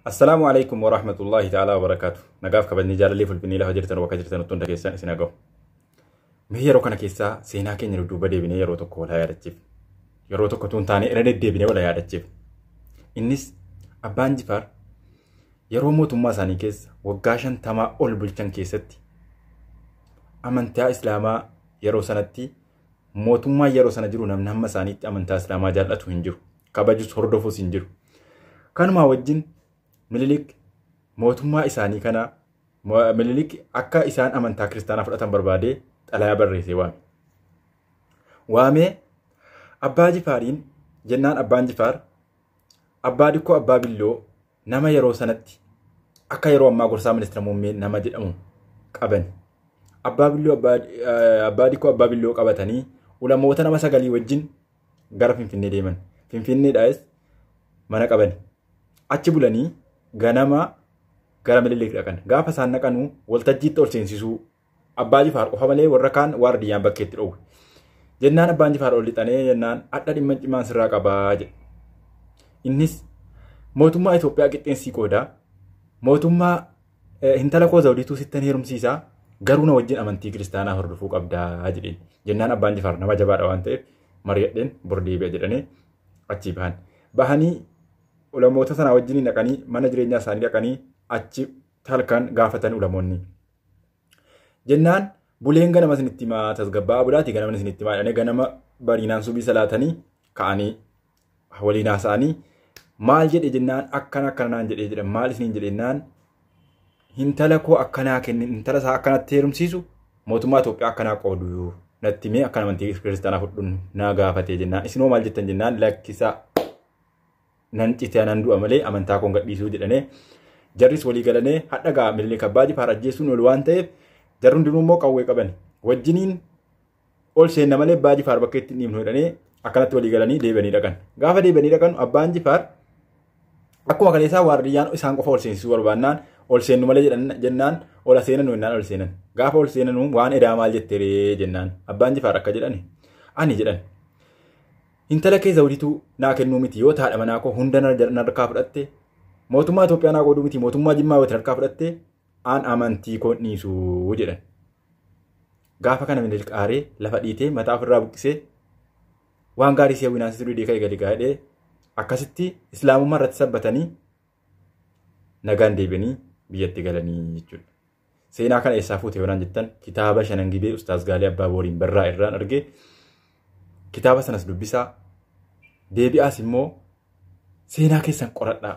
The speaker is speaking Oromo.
Assalaamu alaikum wa rahmatullahi ta'ala wa barakaatu. Nagaaf kabajni jaalallee fulfinnii lafa jirtan bakka jirtan utuu hunda keessan isin haga'u. Mee yeroo kana keessaa seenaa keenya dudduuba deebinee yeroo tokko wal yaadachiif. Yeroo tokko tuun taanee irra deddeebinee wal yaadachiif. Innis abbaan jifaar yeroo mootummaa isaanii keessa waggaa shantamaa ol bulchan keessatti amantaa islaamaa yeroo sanatti mootummaa yeroo sana jiru namni hamma isaaniitti amantaa islaamaa jaallatu hin jiru. kabajus hordofus hin jiru. Kanumaa wajjin Minilik mootummaa isaanii kana Minilik akka isaan amantaa kiristaanaa fudhatan barbaadee xalayaa barreessee waame. Waamee abbaa jifaariin jennaan abbaan jifaar abbaa dikkoo abbaa billoo nama yeroo sanatti akka yeroo ammaa gorsaa ministeera muummee nama jedhamu qabani. Abbaa billoo abbaa dikkoo abbaa billoo qabatanii ulamoota nama sagalii wajjin gara Finfinnee deeman. Finfinneedhaas mana qabani. Achi bulanii ganama gara Minilik dhaqan. Gaafa isaan dhaqanuu waltajjiitti ol seensisuu Abbaa Jifaar qofa malee warra kaan waardiyyaan bakkeetti dhoowwe. Jennaan Abbaan Jifaar ol lixanee jennaan adda dhimma cimaan sirraa qabaa jedhe. Innis mootummaa Itoophiyaa qixxeensii qoodaa mootummaa Hintala koo Zawudiituu sittan heerumsiisaa garuu na wajjin amantii kiristaanaa hordofuu qabdaa jedheen. Jennaan abbaan Jifaar nama jabaadha waan ta'eef mari'adheen bor deebi'a jedhanii achii bahan. Bahanii ulamoota sanaa wajjin dhaqanii mana jireenyaa isaanii dhaqanii achi halkan gaafatan ulamoonni. Jennaan buleen ganama isinitti himaa tasgabbaa'aa bulaatii ganama isinitti himaa jedhanii ganama bariinaan subii salaatanii ka'anii waliin haasa'anii maal jedhe jennaan akkana akkana naan jedhee jedhan maal isiniin jedhe jennaan hintala koo akkanaa kenni hintala isaa akkanatti heerumsiisu mootummaa Itoophiyaa akkanaa qoodu natti mee akka amantii kiristaanaa fudhuun naa gaafatee jennaan isinoo maal jettan jennaan lakkisaa nan citee nan du'a malee amantaa koon gadhiisuu jedhanee jarris walii galanee hadha gaa mililik abbaa jifaar ajjeessuun ol waan ta'eef jarri hundinuu immoo qawwee qaban wajjiniin ol seenna malee abbaa jifaar bakka ittiin dhiibnu jedhanii akkanatti walii galanii deebi'anii dhaqan. Gaafa deebi'anii dhaqan abbaan jifaar akkuma kaleessaa waardiyyaan isaan qofa ol seensisuu barbaannaan ol seennu malee jennaan ol seenanu jennaan ol seenan. Gaafa ol seenanu waan edaa maal jette ree jennaan abbaan jifaar akka jedhani ani jedhan. Intala kee zawudituu naa kennuu miti yoo taadha manaa koo hunda narkaa fudhatte mootummaa Itoophiyaa naa qooduu miti mootummaa Jimmaa wati narkaa fudhatte Aan amantii koon dhiisu jedhan. Gaafa kana Minilik aaree lafa dhiitee mataa ofirraa buqqisee waan gaarii si hawwinaan si dudee ka'e gadi gaadhee akkasitti islaamummaa irratti sabbatanii nagaan deebi'anii biyyatti galanii jechuudha. Seenaa kana eessaa fuute yoonaan jettan kitaaba shanan gibee Ustaaz Gaalee Abbaa Booriin barraa irraan argee kitaaba sanas dubbisaa deebi'aas immoo seenaa keessan qoradhaa.